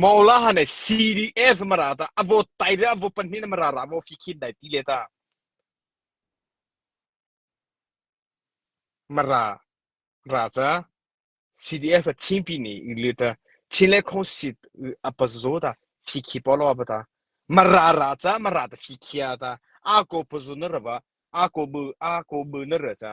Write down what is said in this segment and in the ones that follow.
Maula hane CDF mara ta a vote tai le a vote pahnih na mara ra maw fi khin dai ti le ta mara ra cha CDF a chin pi ni le ta chin le khong sit a pas zo ta fi khi polo ba ta mara ra cha mara ta fi khia ta a ko pazu na raba a ko bu a ko bu na ra cha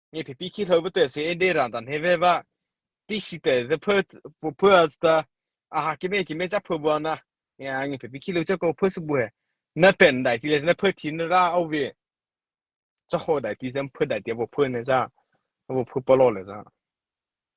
nge phepi khi lo bete se e de ran tan he ve ba ti si te the per purpose ta a ha ki me ki me cha phu bwa na ya nge phepi khi lo cha ko phu su bu he na ten dai ti le na phu thin ra au vi cha ho dai ti sem phu dai ti bo phu ne cha bo phu polo le cha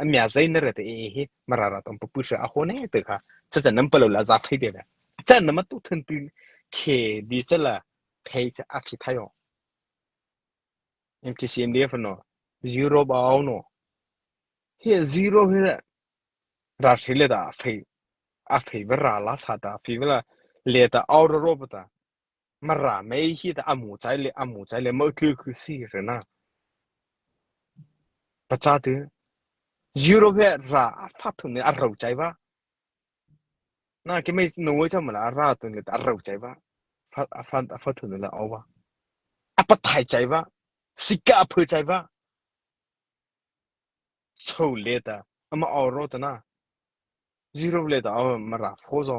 Ami a zai na re te hi mara ra tom pu sha a ho ne te kha cha chan nam palo la za phei de la chan nam tu thun ti khe di cha la phei cha a khi thayo MTCMD fa no zero ba no hi zero hi ra shi le da phei a phei ver ra la sa ta phi vela le ta aur ro pa ta Mara mei hi tah a mu cai le a mu cai le mo thil khi si re na. Paca tu Europe he ra a fat thun ne a ro cai ba. Na ke mei no wei cham la a ra tun le a ro cai ba. Fat a fat a fat thun le o ba. A pat thai cai ba. Sika a phu cai ba. Chau le ta. Ama oro ta na. Europe le ta o mara fo zo.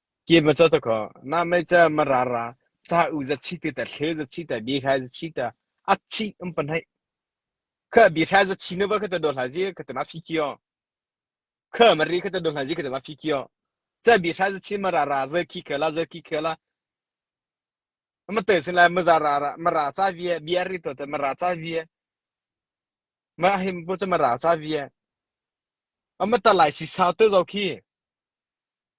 Kem a caw kho. Na mei cu ma ra ra. Ca u za chi te ta thle za chi ta bi hra za chi ta a chi um pan hai. Kha bi hra za chi no ba kha ta do hla ji kha ta ma phi kyo. Kha ma ri kha ta do hla ji kha ta ma phi kyo. Ca bi hra za chi ma ra ra za ki kha la za ki kha la. Ma te sin la ma za ra ra ma ra cha vi bi ri to ta ma ra cha vi. Ma him bu cha ma ra cha vi. Ama ta lai si sa te zo ki.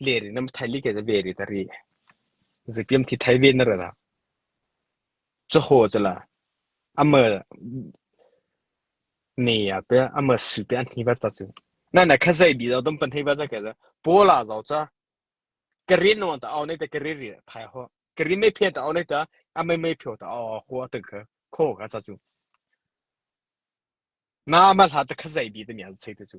Len in na thai like na ve rih ta rih. Zapiam thi thai ve na ra dah. Cahaw cu la. Ama ne ya pe ama su pe an hni va ta cu. Na na kha zai bi zo dam pan hei va za ke za. Pola zo cha. Karin no ta au nei ta karin ri thai ho. Karin mai phe ta au nei ta ama mai phyo ta au ho ta kha. Kho ka cha chu. Na ama hla ta kha zai bi ta mi an sai ta chu.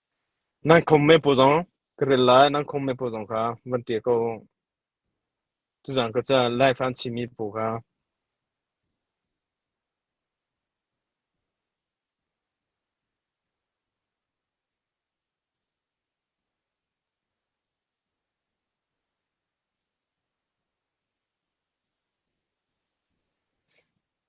Nan khom me paw zong ka rel lai, nan khom me paw zong kha van ṭial ko u. Tuzaan ka ca Life an chimmi paw kha.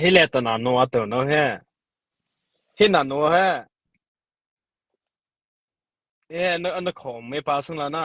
Hi le ton ah nu a tur no he. Hi na nu he. Hi na an na khawm me pa sung la na.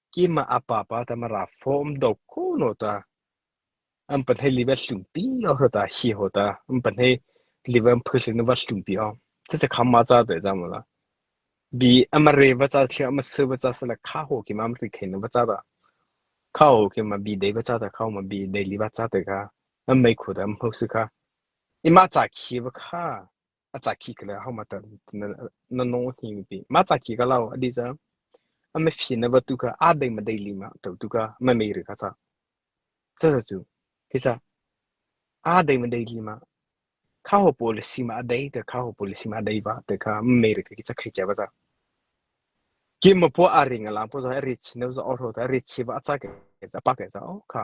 Kim ah a pa pa tamara form do ko no ta. An pan hei live hlum pi o ho ta hi ho ta. An pan hei live an phu hlum va hlum pi o. Ti se kham ma cha te ja mo la. Bi amare va cha thia ama se va cha sala kha ho ki ma amri khen va cha da. Kha ho ki ma bi dei va cha da kha ma bi dei liva cha te ka. An mai khu da am ho si ka. Ima cha khi va kha. a ca khi ka le ho ma ta na nong hi mi pi ma ca khi ka lau adi ja a me phi na ba tu ka a dei ma dei li ma to tu ka me me ri ka cha cha cha chu ki cha a dei ma dei li ma kha ho policy ma dei te kha ho policy ma dei ba te kha me ri ki cha khai cha ba cha kim ma po a ring la po zo ri chi ne zo oro ta ri chi ba cha ke pa ke cha o kha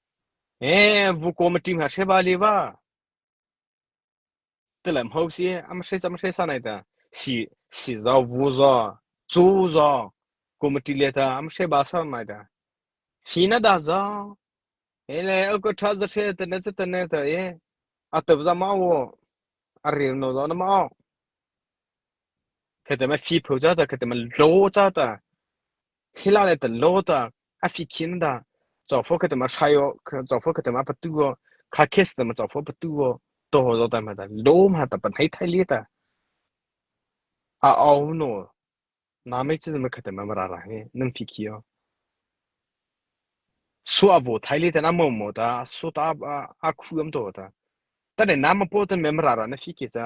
Ee, vukom a ṭim ha hre va le va. Ti le mho si, am hre cam hre sa nai ta. Si, si zaw vu zaw, cu zaw, kum a ṭi le ta, am hre ba sam nai ta. Hi na da zaw, e le uk a ṭha za hre ta ne ta ta ne ta e. A tap za ma wo, a ril no zaw na ma o. Kete ma fi phu cha ta, kete ma lo cha ta. Khila le tan lo ta a fi khin da chawfo ka tama sai o chawfo ka tama patu o kha kes tama chawfo patu o to zo ta ma da lo ma ta pan hai thai le ta a au no na mai chi ma ka tama mara ra he nan fi khi o su a vo thai le ta na mo mo ta su ta a khu am to ta ta ne na ma po tan me mara ra na fi ke ta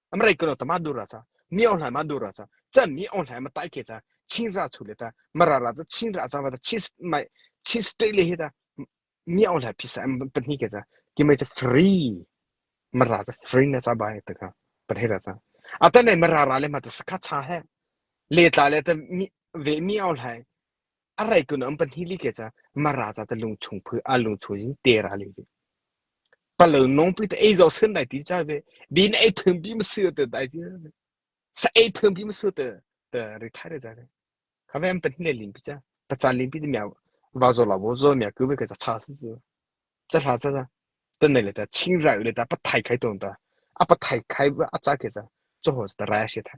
Americano ta ma dura cha mi ong hlai ma dura cha chan mi ong hlai ma tai ke cha chin ra chu le ta mara ra ta chin ra cha ma ta chis mai chis te le he ta mi ong hlai phisa em pani ke cha ki mai cha free mara cha free na cha ba ta ka pan he ra cha ata nei mara ra le ma ta ska cha he le tla le ta mi ve mi ong hlai A reikun um pahnih li ke ca Mara ca te lungchung phu a lungchung in tera ling hi. Palo nong pi te ei zo sin dai ti cha ve. Bin ei thun bi masu te dai ti. Sa ei thun bi masu te te retire ra re. Ka ve am pahnih le ling pi cha. Ta chan ling pi te mya va zo la bo zo mya ku ve ke ca cha su su. Cha hla cha cha. Tan nei le ta ching ra le ta pa thai khai ton ta. A pa thai khai a cha ke ca. Cho ho ta ra she tha.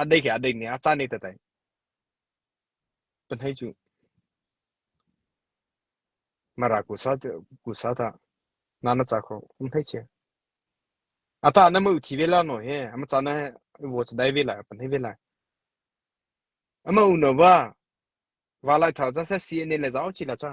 a dei a dei ni a caan ne te tai pan hei chu mara ku sa ku sa ta na na cha kho kum hei che ata na mu thi ve la no he ama cha na wo cha dai ve la pan hei ve la ama u no va wa lai thao ja sa si ne le zao chi la cha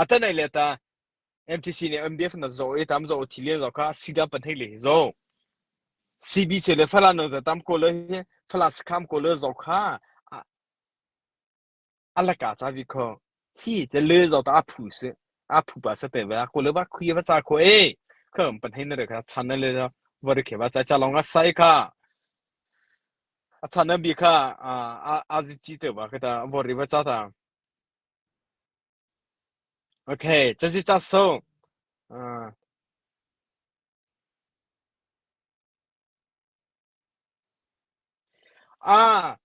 a tan ai le ta MTC ne MDF na zo e tam zo thi le zo ka sida pan hei le zo CBC le fala no za tam ko le fala skam ko le zo kha alaka cha vi kho hi te le zo ta phu se a phu ba se pe ba ko le ba khuya ba cha ko e kham pan hei na re ka channel le var ke ba cha cha long a sai ka a channel bi kha a a ji ti te ba ka ta vor ri ba cha ta Okay, cazicah sungh. Uh, ah,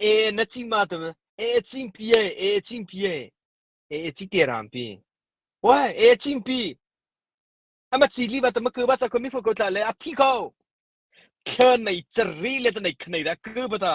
eh na cing ma tu eh cing pi eh eh cing pi eh eh cing te ram pi. Why eh cing pi ama chi li ba ta ma ku ba cha ko mi fu ko tla le a thi ko. Khen nei chari le ta nei khnei ra ku ba ta.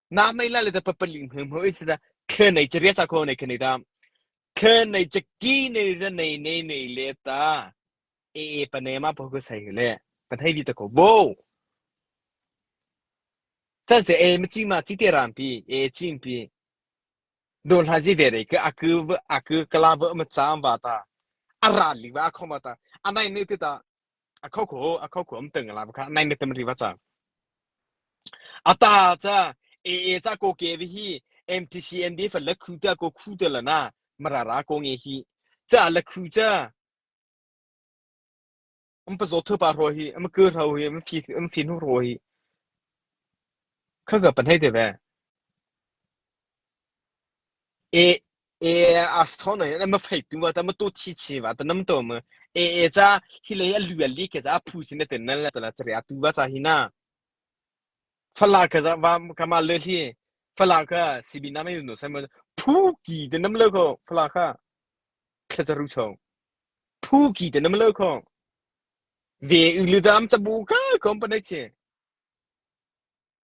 na mei la le ta papali hmu hmu is da khe nei che ria sa ko nei khe nei da khe nei che ki nei da nei nei nei le ta e e pa ne ma pa ku sai le pa thai di ta ko bo ta che e ma chi ma chi te ram pi e ching pi don ha ji ve re ke aku aku kala ba ma cham ba ta ara li ba khom ba ta anai ne te ta a kho kho a kho kho am teng la ba kha nai me tem ri va cha ata cha aa cha ko ke bi hi MTCND fa la khu ta ko khu te la na marara ko nge hi cha la khu cha am pa zo thu pa ro hi am ke ro hi am phi am phi nu ro hi kha ga pan hei te ve e ee astho no na ma fei tu wa ta ma tu thi chi wa ta nam to ma ee cha hi le a lu li ke cha phu sin te nan la ta la chre a tu wa cha hi na fala ka za wa ka ma le hi fala ka sibi na mai no sai ma phu ki de nam le ko fala ka thla cha ru chong phu ki de nam le ko ve u lu dam ta bu ka company che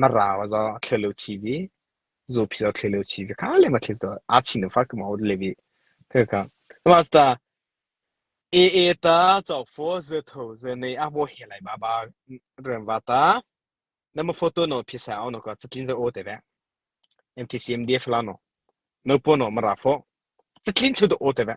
na rau zaw a thlir lo chi vi zupi zaw thlir lo chi vi kha le ma thlir to a chin lo fa ka ma le vi thế ka master a a ta cho pho ze tho ze nei a bo he lai ba ba ren va ta na ma photo no phi sa au no ka chatlin za o te ve MTCMDF la no no po no ma ra pho chatlin chu do o te ve